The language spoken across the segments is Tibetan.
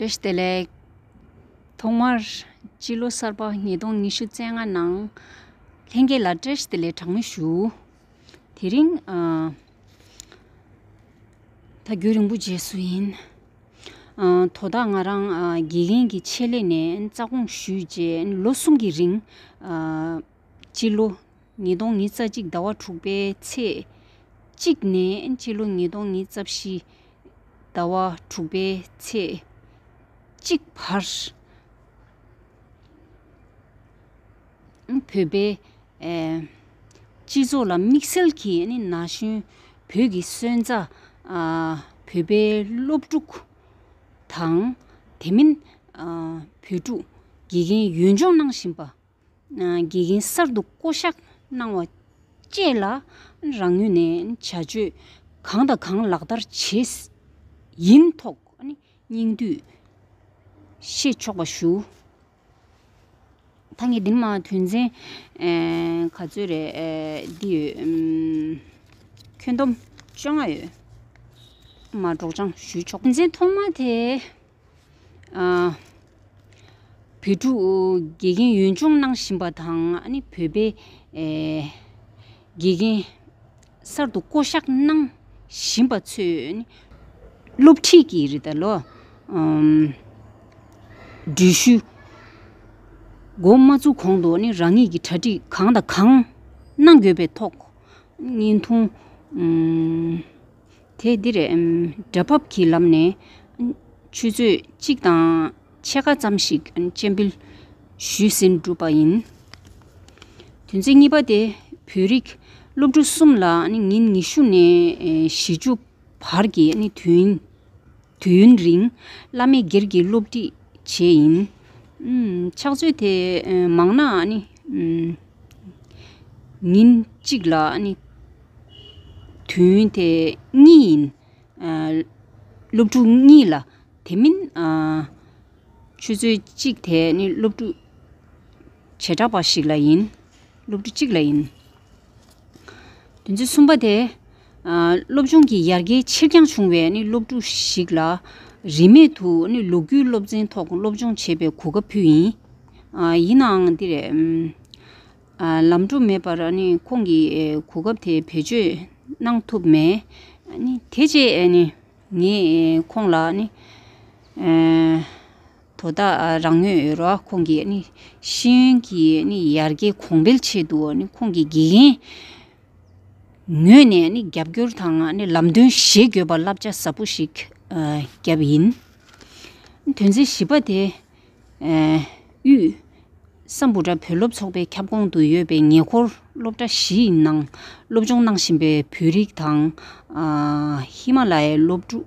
བཀྲ་ཤིས་བདེ་ལེགས། ཐོག་མར། སྤྱི་ལོ་གསར་པ་ཉིས་སྟོང་ཉི་ཤུ་བརྩེགས་ལྔ་ནང། ལྷན་རྒྱས་ལ་བཀྲ་ཤིས་བདེ་ལེགས་གྲངས་མེད་ཞུ། དེ་རིང། ད་རྒྱུན་རིང་པོ་རྗེས་སུ་ཡིན། དོ་བདག་ང་རང་དགེ་རྒན་གྱི་ཆེད་ལས་ནས་རྩ་དགོངས་ཞུས་རྗེས་ལོ་གསུམ་གྱི་རིང། སྤྱི་ལོ་ཉིས་སྟོང་ཉིས་རྩ་གཅིག་ཟླ་བ་དྲུག་པའི་ཚེས་གཅིག་ནས་སྤྱི་ལོ་ཉིས་སྟོང་ཉིས་རྩ་བཞི་ཟླ་བ་དྲུག་པའི་ཚེས་གཅིག་བར། བོད་པའི་སྤྱི་ཚོགས་ལ་དམིགས་བསལ་གྱིས་ན་གཞོན་བོད་ཀྱི་སོན་རྩ། བོད་པའི་སློབ་ཕྲུག་དང་དེ་མིན་བོད་ཕྲུག་དགེ་རྒན་ཡོན་སྦྱོང་གནང་བཞིན་པ། དགེ་རྒན་གསར་དུ་བསྐོ་གཞག་གནང་བ་བཅས་ལ་རང་ངོས་ནས་བྱ་སྤྱོད་གང་དང་གང་ལག་བསྟར་བྱེད་ཡིན་ཐོག་སྙིང་བསྡུས་ཤེས་ཆོག་པ་ཞུ། ད་ངས་འདི་མ་དོན་ཚན་ག་ཚོད་རེད་འདི་ཡོད། ཁྱོན་བསྡོམས་བཅོ་ལྔ་ཡོད། མ་སྒྲོགས་སྦྱང་ཞུ་ཆོག། དོན་ཚན་ཐོག་མ་དེ། བོད་ཕྲུག་དགེ་རྒན་ཡོན་སྦྱོང་གནང་བཞིན་པ་དང་བོད་པའི་དགེ་རྒན་གསར་དུ་བསྐོ་བཞག་གནང་བཞིན་པ་ཚོས་སློབ་ཁྲིད་ཀྱི་རིགས་དང་ལོ་འགྲུལ་བཞུད་འགོ་མ་བཙུགས་གོང་དུ་རང་ཉིད་ཀྱི་གྲ་སྒྲིག་གང་དང་གང་གནང་དགོས་པའི་ཐོག་བརྙན་ཐུང། དེས་འདིར་སྒྲ་ཕབ་ཀྱི་ལམ་ནས། ཆུ་ཚོད་གཅིག་དང་ཕྱེད་ཀ་ཙམ་ཞིག་སྤྱན་འབུལ་ཞུས་ཟིན་བསྒྲུབས་པ་ཡིན། དོན་ཚན་གཉིས་པ་དེ་བོད་རིགས་སློབ་ཕྲུག་གསུམ་ལ་ཉིན་ཉི་ཤུ་ནས་བཞི་ཅུ་བར་གྱི་དུས་ཡུན། དུས་ཡུན་རིང། བླ་མེད་སྒེར་གྱི་སློབ་ཁྲིད་བྱེད་ཡིན། ཕྱག་མཛོད་དེ་མང་ན། ཉིན་གཅིག་ལ། དུས་ཡུན་དེ་གཉིས་ཡིན། སློབ་ཕྲུག་གཉིས་ལ་དེ་མིན། ཆུ་ཚོད་གཅིག་དེ་ནི་སློབ་ཕྲུག་བྱེ་བྲག་པ་ཞིག་ལ་ཡིན། སློབ་ཕྲུག་གཅིག་ལ་ཡིན། དོན་ཚན་གསུམ་པ་དེ། སློབ་སྦྱོང་གི་ཡར་རྒྱས་ཕྱིར་འགྱངས་བྱུང་བའི་སློབ་ཕྲུག་ཞིག་ལ། རིན་མེད་དུ་ལོ་རྒྱུས་སློབ་ཚན་ཐོག་སློབ་སྦྱོང་བྱེད་པའི་གོ་སྐབས་ཕུལ། ཡིན་ནའང་འདིར། ལམ་འགྲོ་མེད་པར་ཁོང་གིས་གོ་སྐབས་དེ་བེད་སྤྱོད་གནང་ཐུབ་མེད། དེ་རྗེས་ངས་ཁོང་ལ། དོ་བདག་རང་མོས་ཡོད་རོགས་ཁོང་གིས་ཤེས་ཡོན་གྱི་ཡར་རྒྱས་གོང་འཕེལ་ཆེད་དུ་ཁོང་གི་དགེ་རྒན་ངོས་ནས་རྒྱབ་སྐྱོར་དང་ལམ་སྟོན་བཞེས་དགོས་པར་བསླབ་བྱ་ཟབ་པོ་ཞིག་བརྒྱབ་ཡིན། དོན་ཚན་བཞི་པ་དེ་དབུས་སམ་བུ་ཏྲ་བུ་སློབ་ཚོགས་པའི་ཁྱབ་ཁོངས་དུ་ཡོད་པའི་ཉེ་འཁོར་སློབ་གྲྭ་བཞིའི་ནང་སློབ་སྦྱོང་གནང་བཞིན་པའི་བོད་རིགས་དང་ཧི་མ་ལ་ཡའི་སློབ་ཕྲུག་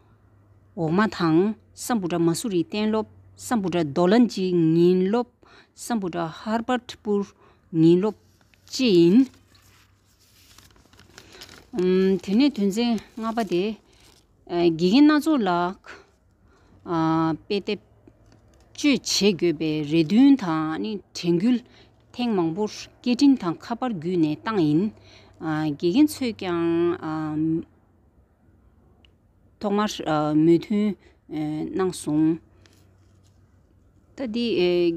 འོག་མ་དང། ས་འབུ་ཏྲ་མ་སུ་རི་གཏན་སློབ། ས་འབུ་ཏྲ་རྡོ་ལ་འཇིགས་ཉིན་སློབ། ས་འབུ་ཏྲ་ཧར་པར་ཏྲི་པུར་ཉིན་སློབ། ཅེས་ཡིན། དེ་ནས་དོན་ཚན་ལྔ་པ་དེ། དགེ་རྒན་སྣ་ཚོགས་ལ། དཔེ་དེབ་སྤྱོད་བྱེད་དགོས་པའི་རེ་འདུན་དང་དྲན་སྐུལ། ཐེངས་མང་པོར་སྐད་འཕྲིན་དང་ཁ་པར་བརྒྱུད་ནས་བཏང་ཡིན། དགེ་རྒན་ཚོས་ཀྱང། ཐོག་མར་མོས་མཐུན་གནང་སོང། ད་དེ་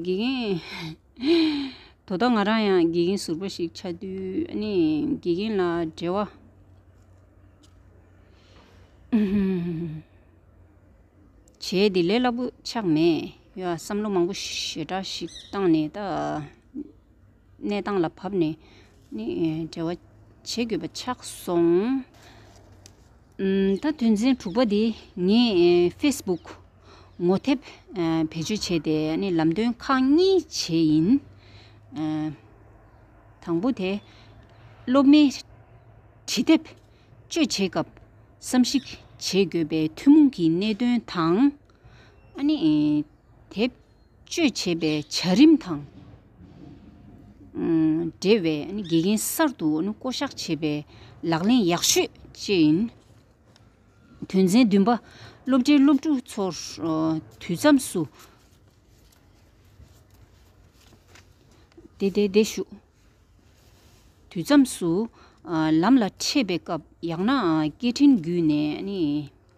དགེ་རྒན། དོ་བདག་ང་རང་ཡང་དགེ་རྒན་ཟུར་པ་ཞིག་ཆགས་དུས་དགེ་རྒན་ལ་འབྲེལ་བ། བྱས་ཏེ་ལས་སླ་པོ་ཆགས་མེད་ཡོད་བསམ་བློ་མང་པོ་ཞེ་དྲག་ཞིག་བཏང་ནས་ད། གནས་སྟངས་ལ་བབས་ནས་ནི་འབྲེལ་བ་བྱེད་དགོས་པ་ཆགས་སོང། ད་དོན་ཚན་དྲུག་པ་དེ་ངས Facebook ངོ་དེབ་བེད་སྤྱོད་བྱས་ཏེ་ནི་ལམ་སྟོན་ཁག་གཉིས་བྱས་ཡིན། དང་པོ་དེ། སློབ་མའི་བྲིས་དེབ་སྤྱོད་བྱེད་སྐབས་བསམ་གཞིག་བྱེད་དགོས་པའི་ཐུན་མོང་གི་གནད་དོན་དང། ནི་དེབ། སྤྱོད་བྱེད་པའི་བྱ་རིམ་དང་འབྲེལ་བའི་དགེ་རྒན་གསར་དུ་བསྐོ་བཞག་བྱེད་པའི་ལག་ལེན་ཡག་ཤོས་བཅས་ཡིན། དོན་ཚན་བདུན་པ། སློབ་གྲྭའི་སློབ་ཕྲུག་ཚོར་དུས་མཚམས་སུ་བདེ་བདེ་ཞུགས། དུས་མཚམས་སུ་ལམ་ལ་འཕྲད་པའི་སྐབས་ཡང་ན་སྐད་འཕྲིན་བརྒྱུད་ནས།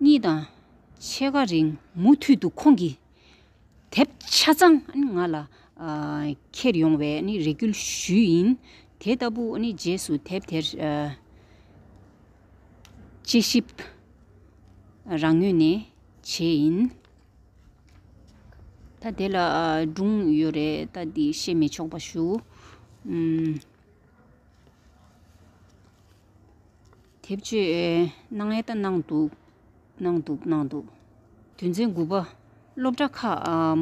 གཉིས་དང། ཕྱེད་ཀ་རིང་མུ་མཐུད་དུ་ཁོང་གི་དེབ་ཆ་ཚང་ང་ལ་འཁྱེར་ཡོང་བའི་རེ་སྐུལ་ཞུས་ཡིན། དེ་ལྟ་བུ་རྗེས་སུ་དེབ་དེར་དཔྱད་ཞིབ་རང་ངོས་ནས་བྱས་ཡིན། ད་དེ་ལ་སྒྲུང་ཡོད་རེད་ད་འདི་བཤད་མི་ཆོག་པ་ཞུ། དེབ་སྤྱོད་གནང་ཨེ་ད་གནང་འདུག་གནང་འདུག་གནང་འདུག་དོན་ཚན་དགུ་པ། སློབ་གྲྭ་ཁག་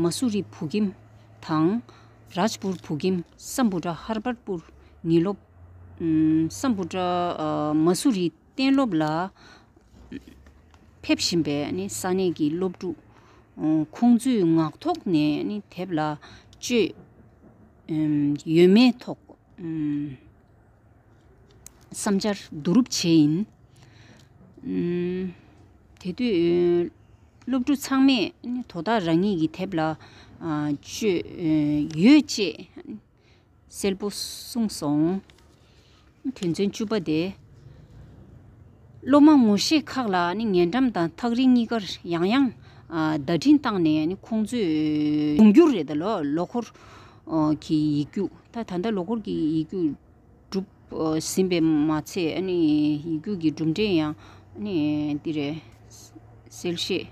མ་སུ་རི་བྷུ་ཀིམ་དང། རཱཇ་པུར་བྷུ་ཀིམ་སམ་བྷུ་ཏྲ་ཧར་པར་པུར་ཉིན་སློབ། སམ་བྷུ་ཏྲ་མ་སུ་རི་གཏན་སློབ་ལ་ཕེབས་བཞིན་པའི་ས་གནས་ཀྱི་སློབ་ཕྲུག་ཁོང་ཚོས་ངག་ཐོག་ནས་དེབ་ལ་སྤྱོད་ཡོད་མེད་ཐོག། བསམ་འཆར་བསྡུ་རུབ་བྱས་ཡིན། དེ་དུས་སློབ་ཕྲུག་ཚང་མས་དོ་བདག་རང་ཉིད་ཀྱི་དེབ་ལ་སྤྱོད་ཡོད་ཅེས་གསལ་པོ་གསུངས་སོང། དོན་ཚན་བཅུ་པ་དེ། སློབ་མ་ངོ་ཤེས་ཁག་ལ་ཉེ་འགྲམ་དང་ཐག་རིང་གཉིས་ཀར་ཡང་ཡང་བརྡ་འཕྲིན་བཏང་ནས་ཁོང་ཚོས་འབྱུང་འགྱུར་རེ་ད་ལོ་ལོ་འཁོར་གི་ཡིག་རྒྱུགས་ད་ལྟ་ལོ་འཁོར་གྱི་ཡིག་རྒྱུགས་གྲུབ་ཟིན་པས་མ་ཚད་ཡིག་རྒྱུགས་ཀྱི་གྲུབ་འབྲས་ཡང་འདི་རེད། གསལ་བཤད་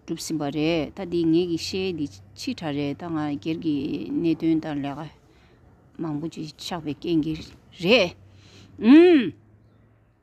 གྲུབ་ཟིན་པ་རེད་ད་འདི་ངེད་ཀྱི་ཤེས་འདི་ཕྱི་དྲ་རེད་ད་ང་སྒེར་གྱི་གནད་དོན་དང་ལས་ཀ་མང་པོ་ཅིག་ཆགས་པའི་རྐྱེན་གྱིས་རེད།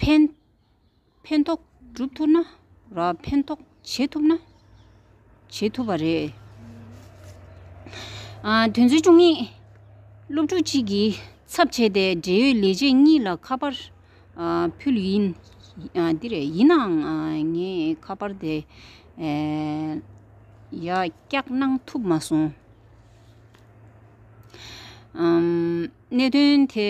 ཕན་ཐོགས་སྒྲུབ་ཐུབ་ན་རང་ཕན་ཐོགས་བྱེད་ཐུབ་ན་བྱེད་ཐུབ་པ་རེད། དོན་ཚན་བཅུ་གཉིས། སློབ་ཕྲུག་གཅིག་གིས་ཚབ་བྱས་ཏེ་འབྲེལ་ཡོད་ལས་བྱེད་གཉིས་ལ་ཁ་པར་ཕུལ། ཡིན་ནའང་ངས་ཁ་པར་དེ་ཡག་སྐྱག་གནང་ཐུབ་མ་སོང། གནད་དོན་དེ་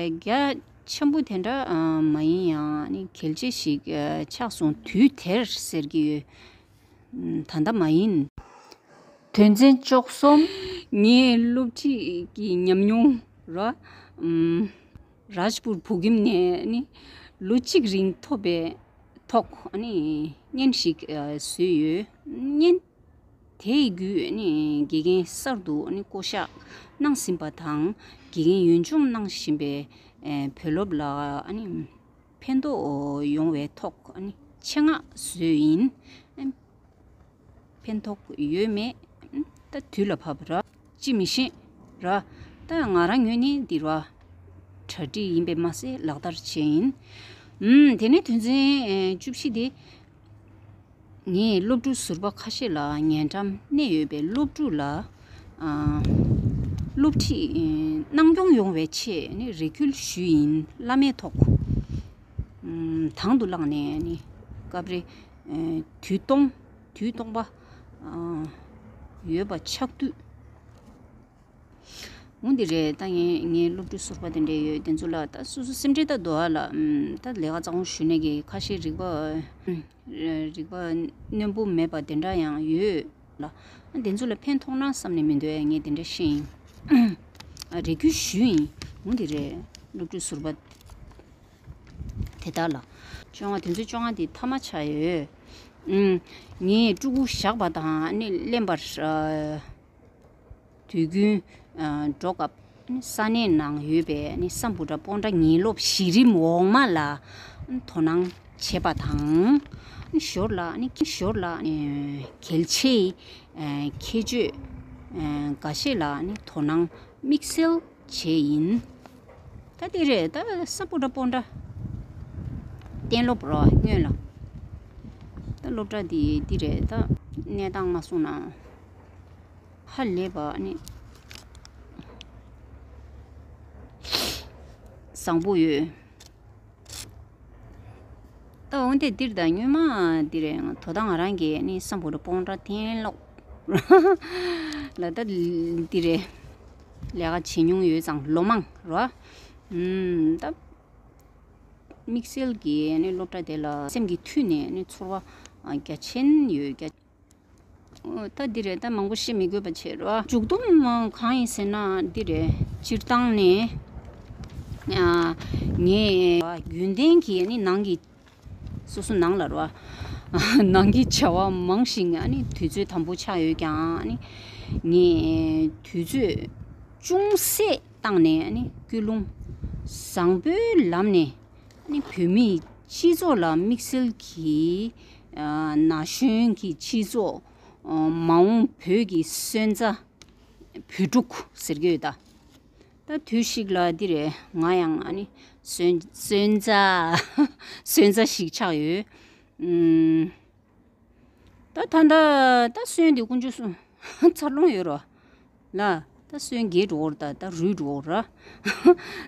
རྒྱ་ཆེན་པོ་དེ་འདྲ་མ་ཡིན་ཡང་གལ་ཆེ་ཞིག་ཆགས་སོང་དུས་དེར་ཟེར་གྱི་ཡོད། ད་ལྟ་མ་ཡིན། དོན་ཚན་བཅོ་གསུམ། ངས་སློབ་ཁྲིད་ཀྱི་ཉམས་མྱོང་རུ། རཱཇ་པུར་བོད་ཁྱིམ་ནས་ལོ་གཅིག་རིང་ཐོབ་པའི་ཐོག་བརྙན་ཞིག་བཟོས་ཡོད། བརྙན། དེ་ཡི་བརྒྱུད་ནི་དགེ་རྒན་གསར་དུ་བསྐོ་བཞག་གནང་ཟིན་པ་དང་དགེ་རྒན་ཡོན་སྦྱོང་གནང་བཞིན་པའི་བུ་སློབ་ལ་ཕན་ཐོགས་ཡོང་བའི་ཐོག་ཆེད་མངགས་བཟོས་ཡིན། ཕན་ཐོགས་ཡོད་མེད་ད་དུས་ལ་བབ། ཅི་མི་ཤེས། ད་ང་རང་ཉོས་ནི་འདི་ར། གྲ་སྒྲིག་ཡིན་པས་མ་ཟད་ལག་བསྟར་བྱས་ཡིན། དེ་ནས་དོན་ཚན་བཅུ་བཞི་དེ། ངས་སློབ་ཕྲུག་ཟུར་པ་ཁ་ཤས་ལ་ཉེ་འགྲམ་གནས་ཡོད་པའི་སློབ་ཕྲུག་ལ་སློབ་ཁྲིད་གནང་སྐྱོང་ཡོང་བའི་ཆེད་རེ་སྐུལ་ཞུས་ཡིན་བླ་མའི་ཐོག་དང་དུ་བླངས་ནས་སྐབས་རེ་དུས་སྟོང་པ་ཡོད་པ་ཆགས་དུས་འོ་འདི་རེད་ད་ངས་ངའི་སློབ་ཕྲུག་ཟུར་པ་དེ་འདྲས་ཡོད་དེ་ཚོ་ལ་ད་སོ་སོ་སེམས་ཁྲལ་ད་དོ་ཨ་ལགས་ད་ལས་ཀ་གཙང་བོ་ཞུས་ནས་ཀྱི་ཁ་ཤས་རིག་པ་རིག་པ་རྣོན་པོ་མེད་པ་དེ་འདྲ་ཡང་ཡོད་ལ་ཨ་དེ་ཚོ་ལ་ཕན་ཐོགས་ན་བསམ་ནས་མི་འདོད་ཨ་ངས་དེ་འདྲ་ཤེས་ཡིན་ཨ་རེ་ཁྱོད་ཞུས་ཡིན་འོ་འདི་རེད་སློབ་ཕྲུག་ཟུར་པ་དེ་དག་ལ། བཅོ་ལྔ་དེ་ཚོའི་བཅོ་ལྔ་དེ་མཐའ་མ་ཆགས་ཡོད་ངས་སྤྲུལ་སྐུ་བཞག་པ་དང་ཨ་ནི་གླེན་པར། དུས་རྒྱུན། འགྲོ་སྐབས། ས་གནས་ནང་ཡོད་པའི་ས་འབུ་དགྲ་སྤོང་དགྲ་ཉེན་སློབ་གཞི་རིམ་འོག་མ་ལ་དོ་སྣང་བྱེད་པ་དང། ཞོར་ལ། གལ་ཆེའི་ཁྱད་ཆོས་འགའ་ཤས་ལ་དོ་སྣང་དམིགས་བསལ་བྱས་ཡིན། ད་དེ་རེད་ད་ས་འབུ་དགྲ་སྤོང་དགྲ། གཏན་སློབ་རོགས་དངོས་ལ། ད་སློབ་གྲྭ་འདི་རེད་ད། གནས་སྟངས་མ་གསུངས་ན། ཧ་ལས་པ་ནི་བཟང་པོ་ཡོད། ད་འོང་སྟེ་འདིར་དང་སྙུན་མ་འདིར་ཡང་དོ་དང་ང་རང་གི་ནི་བསམ་བོར་སྤོང་དགྲ་གཏན་སློག་ལ་ད་འདིར་ལས་ཀ་བྱེད་མྱོང་ཡོད་ཙང་ལོ་མང་རོ། ད་དམིགས་བསལ་གྱི་ནི་སློབ་གྲྭ་དེ་ལ་སེམས་ཀྱི་མཐུད་ནས་ནི་ཚོར་བ་རྒྱ་ཆེན་ཡོད། ད་འདི་རེད་ད་མང་པོ་བཤད་མི་དགོས་པ་བྱེད་རོགས། མཇུག་བསྡོམས་གང་ཡིན་ཟེར་ན་འདི་རེད། སྤྱིར་བཏང་ནས་ངས། རྒྱུན་ལྡན་གྱི་ནང་གི། སོ་སོ་ནང་ལ་རོགས། ནང་གི་བྱ་བ་མང་ཞིང་དུས་ཚོད་དམ་པོ་ཆགས་ཡོད་ཀྱང། ངས་དུས་ཚོད་ཅུང་ཟད་བཏང་ནས་སྐུལ་སློང་བཟང་པོའི་ལམ་ནས། བོད་མིའི་སྤྱི་ཚོགས་ལ་དམིགས་བསལ་གྱིས། ན་གཞོན་གྱི་སྤྱི་ཚོགས། མ་འོངས་བོད་ཀྱི་སོན་རྩ། བོད་ཕྲུག་ཟེར་གྱི་ཡོད། ད་དུས་ཤིག་ལ་འདི་རེད་ང་ཡང་སོན་རྩ། སོན་རྩ་ཞིག་ཆགས་ཡོད། ད་ད་ལྟ་ད་སོན་དེ་ཀུན་ཆུ་སོན་འཚར་ལོངས་ཡོད་རོ། ལ་ད་སོན་རྒྱའི་འགྲོ་བོར་ད་ད་རུའི་འགྲོ་བོར།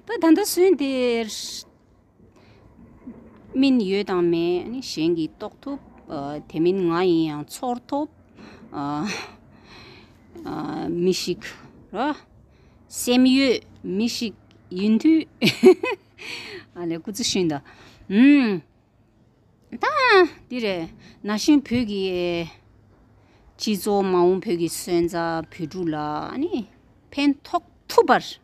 ད་ད་ལྟ་སོན་དེ། སྨིན་ཡོད་དང་མེད་ནི་གཞན་གྱིས་རྟོགས་ཐུབ། དེ་མིན་ང་ཡིན་ཡང་ཚོར་ཐུབ། མི་ཞིག་སེམས་ཡོད་མི་ཞིག་ཡིན་དུས། འདི་རེད། ན་གཞོན་བོད་ཀྱི་སྤྱི་ཚོགས་མ་འོངས་བོད་ཀྱི་སོན་རྩ་བོད་ཕྲུག་ལ་ཕན་ཐོགས་ཐུབ་པར།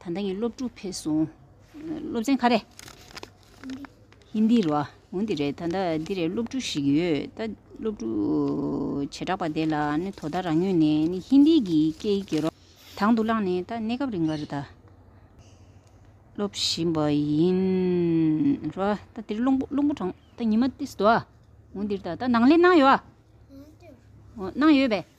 ད་ལྟ་ངའི་སློབ་ཕྲུག་ཕེབས་སོང། སློབ་ཚན་ག་རེད། ཧིནྡི། རོ། འོན་ཏེ་རེད། ད་ལྟ་འདི་རེད་སློབ་ཕྲུག་ཞིག་ཡོད། ད་སློབ་ཕྲུག་བྱེ་བྲག་པ་དེ་ལ་ནི་དོ་ཟླ་རང་ཉོས་ནས་ནི་ཧིནྡི་གི་སྐད་ཡིག་གི་རོ། དང་དུ་བླངས་ནས་ད་གནས་སྐབས་རིང་བར་ད་སློབ་བཞིན་པ་ཡིན། རོ། ད་འདིར་རླུང་བུ་རླུང་བུ་གྲང། ད་ཉི་མ་ཏིས་དོ། འོན་ཏེ་རེད། ད་ནང་ལས་གནང་ཡོད། གནང་ཡོད་པས།